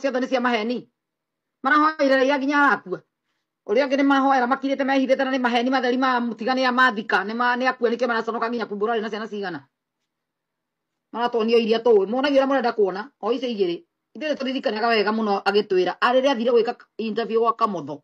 ciothe nĩ cia maheni marahoire raiya nginya arakua uria ungi ni mahoera makirite mehithite na ni maheni matheri ma mutiga ni amathika ni ma ni akua nike maraconoka nginya kumbura ri na ciana cigana maratonio iria tu monagio uria murenda kuona o icio igiri ithuĩ nĩ tũririkanaga wega mũno agĩtwĩra arĩrĩa athire gwĩka interview gwa kamotho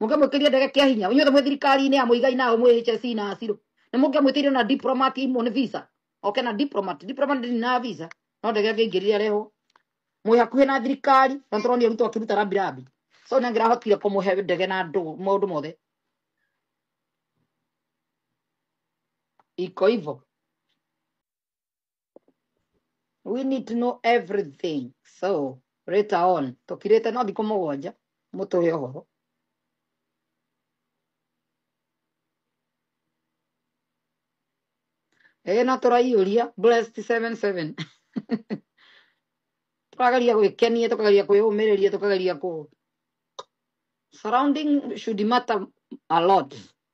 mũkĩmwĩkĩria ndege kĩa hinya inyuothe mwĩ thirikari-inĩ ya mũigai nao mwĩ HSC na acirũ nĩ mũkĩmwĩtĩire na diplomat imwe nĩ visa oke na diplomat diplomat ndĩrĩ na visa no ndege angĩingĩrire arehwo mwĩ hakuhĩ na thirikari na tũroni arutwo akĩruta rambirambi so nĩ angĩrahotire kũmũhe ndege na andũ maũndũ mothe iko ivo we need to know everything so later on tũkirĩte no thikũ mũgwanja mũtũhe ũhoro ĩĩ na tũraiyũria blessed 77 tũrageria gwĩkenia tũkageria kwĩyũmĩrĩria tũkageria kũ surrounding should matter a lot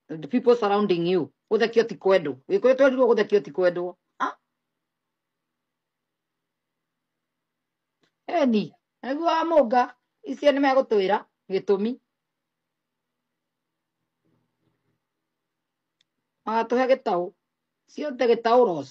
the people surrounding you gũthekio ti kwendwo gĩkũyũ twerirwo gũthekio ti kwendwo Ah. eni nĩguo wa mũnga icio nĩ megũtwĩra gĩtũmi magatũhe gĩtaũ ciothe gĩtaũ ros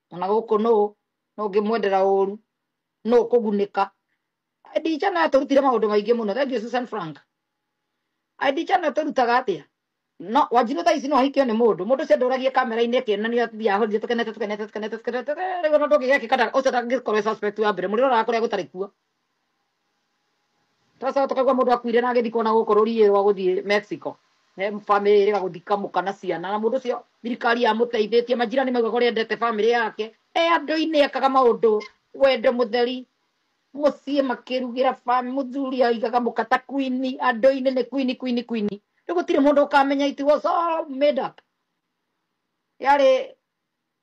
ona gũkũ nũ nũ ngĩmwendera ũru nũ kũgunĩka ndica na tũrutire maũndũ maingĩ mũno thank you Susan Frank ndica na tũrutaga atĩa no wanjirũ thaa ici no ahikio nĩ mũndũ mũndũ ũcio ndũragia kamera-inĩ akĩonania atumia ahorire tũkenete tũkenete tũkenete tũkenete rĩu ona ndũngĩgekĩka ũcio ndangĩkorwo e suspect wa mbere mũrĩroraga kũrĩa gũtarĩ kuo Tũracoka tũkaigua mũndũ akuire na agĩthikwo na gũkũ rũriĩ rwa gũthiĩ Mexico. He famĩlĩ ĩrĩga gũthiĩ kamũka na ciana na mũndũ ũcio thirikari yamũteithĩtie majirani maugaga ũrĩa endete famĩlĩ yake e andũ-inĩ ekaga maũndũ wendo mũtheri mũciĩ makĩrugĩra famĩlĩ mũthuri aigaga mũka ta kwini andũ-inĩ nĩ kwini kwini kwini rĩu gũtirĩ mũndũ ũkamenya it was all made up yarĩ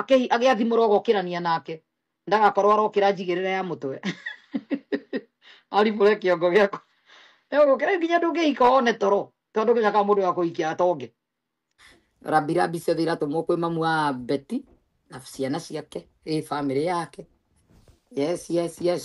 Akĩ- agĩathimũrwo gokĩrania nake ndagakorwo arokĩra njigĩrĩra ya mũtwe aribũre kĩongo gĩakwa egũkĩra nginya ndũngĩhika one toro tondũ ndũgĩcaka mũndũ wa kũhikia atonge rambirambi ciothe iratũmwo kwĩ mamu wa beti na ciana ciake ĩ bamĩrĩ yake yes yes yes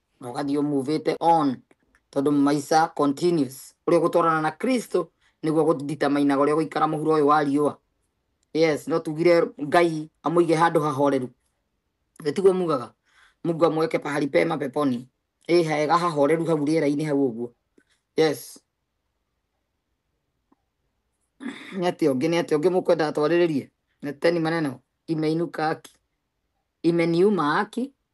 na ũgathiĩ ũmuvĩte on tondũ maica continues ũrĩa ũgũtwarana na kristo nĩguo gũditamainaga ũrĩa ũgũikara mũhuro ũyũ wa riũa yes no tugire ngai amũige handũ hahoreru Ĩ tiguo mugaga mungu amweke pahali pema peponi ĩ hega hahoreru hau rĩera-inĩ hau ũguo yes nĩ atĩa ũngĩ nĩ atĩa ũngĩ mũkwenda atwarĩrĩrie neteni maneno imeinuka aki imeniuma aki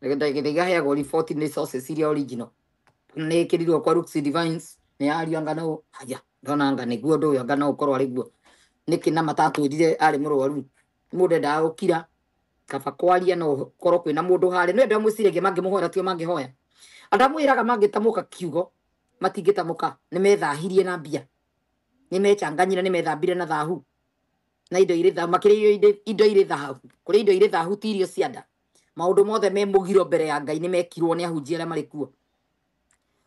Ndagĩtarĩ Gĩthaiga aheagwo riboti nĩ sources iria original. Nĩ ĩkĩrirwo kwa Rooks Divines, nĩ ya ariũ anga na ũ, aja, ndona anga nĩguo ũndũ ũyũ anga no ũkorwo arĩ guo. Nĩkĩ na matatwĩrire arĩ mũrwaru? Nĩ mũndũ endaga gũkira, kaba kwaria no gũkorwo kwĩna mũndũ harĩa. Nĩ andũ arĩa mwĩciragia mangĩmũhoera tio mangĩhoya. Andũ arĩa mwĩraga mangĩtamũka kiugo, matingĩtamũka, nĩ methahirie na mbia. Nĩ mechanganyire, nĩ methambire na thahu. Na indo irĩ thahu, makĩrĩa irio irĩ, indo irĩ thahu. Kũrĩa indo irĩ thahu ti irio cia nda. maundu mothe me mugiro mbere ya ngai nĩ mekirwo nĩ ahunjia arĩa marĩ kuo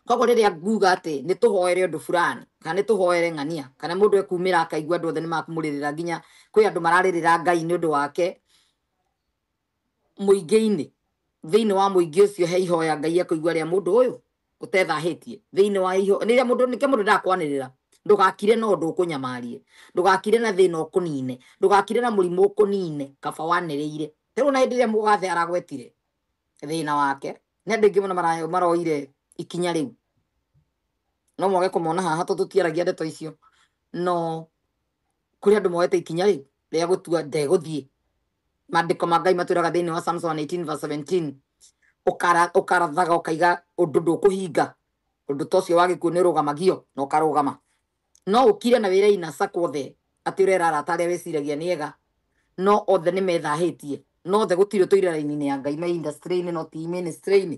koguo rĩrĩa nguga atĩ nĩ tũhoere ũndũ fulani kana nĩ tũhoere ng'ania kana mũndũ ekumĩra akaigua andũ othe nĩ makumũrĩrĩra nginya kwĩ andũ mararĩrĩra ngai nĩ ũndũ wake mũingĩ-inĩ thĩinĩ wa mũingĩ ũcio he ihoya ngai ekũigua rĩa mũndũ ũyũ ũtethahĩtie thĩinĩ wa iho rĩrĩa mũndũ nĩkĩo mũndũ ndakwanĩrĩra ndũgakire na ũndũ ũkũnyamarie ndũgakire na thĩna ũkũnine ndũgakire na mũrimũ ũkũnine kaba wanĩrĩire Rĩu na hĩndĩ ĩrĩa mũgathe aragwetire thĩna wake, nĩ andũ aingĩ mũno mara- maroire ikinya rĩu. No mwage kũmona haha tondũ tũtiaragia ndeto icio, no kũrĩ andũ moete ikinya rĩu rĩa gũtua ndegũthiĩ. Maandĩko ma Ngai matwĩraga thĩinĩ wa Psalms 118 verse 17, "Ũkara- ũkarathaga ũkaiga ũndũ ndũkũhinga, ũndũ ta ũcio wa gĩkuũ nĩũrũgamagio na ũkarũgama." No ũkire na wĩre ina sako othe atĩ ũrera arata arĩa weciragia nĩ ega no othe nĩ methahĩtie no othe gũtirĩ ũtũire raini-inĩ ya Ngai me industry-inĩ no ti ministry-inĩ.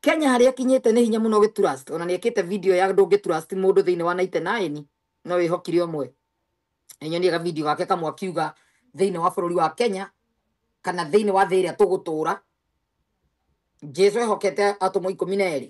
Kenya harĩa ĩkinyĩte nĩ hinya mũno gĩturust ona nĩ ekĩte video ya ndũngĩturust mũndũ thĩinĩ wa 99 no wĩhokire ũmwe. Nĩ nyonire ga video gake kamwe akiuga thĩinĩ wa bũrũri wa Kenya kana thĩinĩ wa thĩ ĩrĩa tũgũtũra Jesu ehokete atũmwo ikũmi na erĩ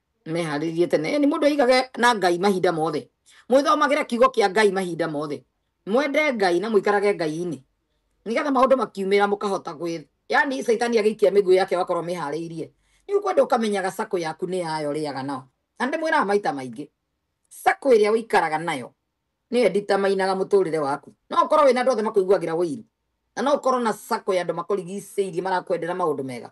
meharĩrie tene ni mundu igage na ngai mahinda mothe mwithomagire kiugo kia ngai mahinda mothe mwende ngai na muikarage ngai-ini nigetha maundu makiumira mukahota gwi yani saitani agiikia miguu yake wakorwo mihariirie ni ukwenda ukamenyaga sako yaku ni yayo riaga nao na ndi mwiraga maita maingi sako iria uikaraga nayo niyo nditamainaga muturire waku no ukorwo wina andu othe makuiguagira wiru na no ukorwo na sako ya andu makurigiceirie marakwendera maundu mega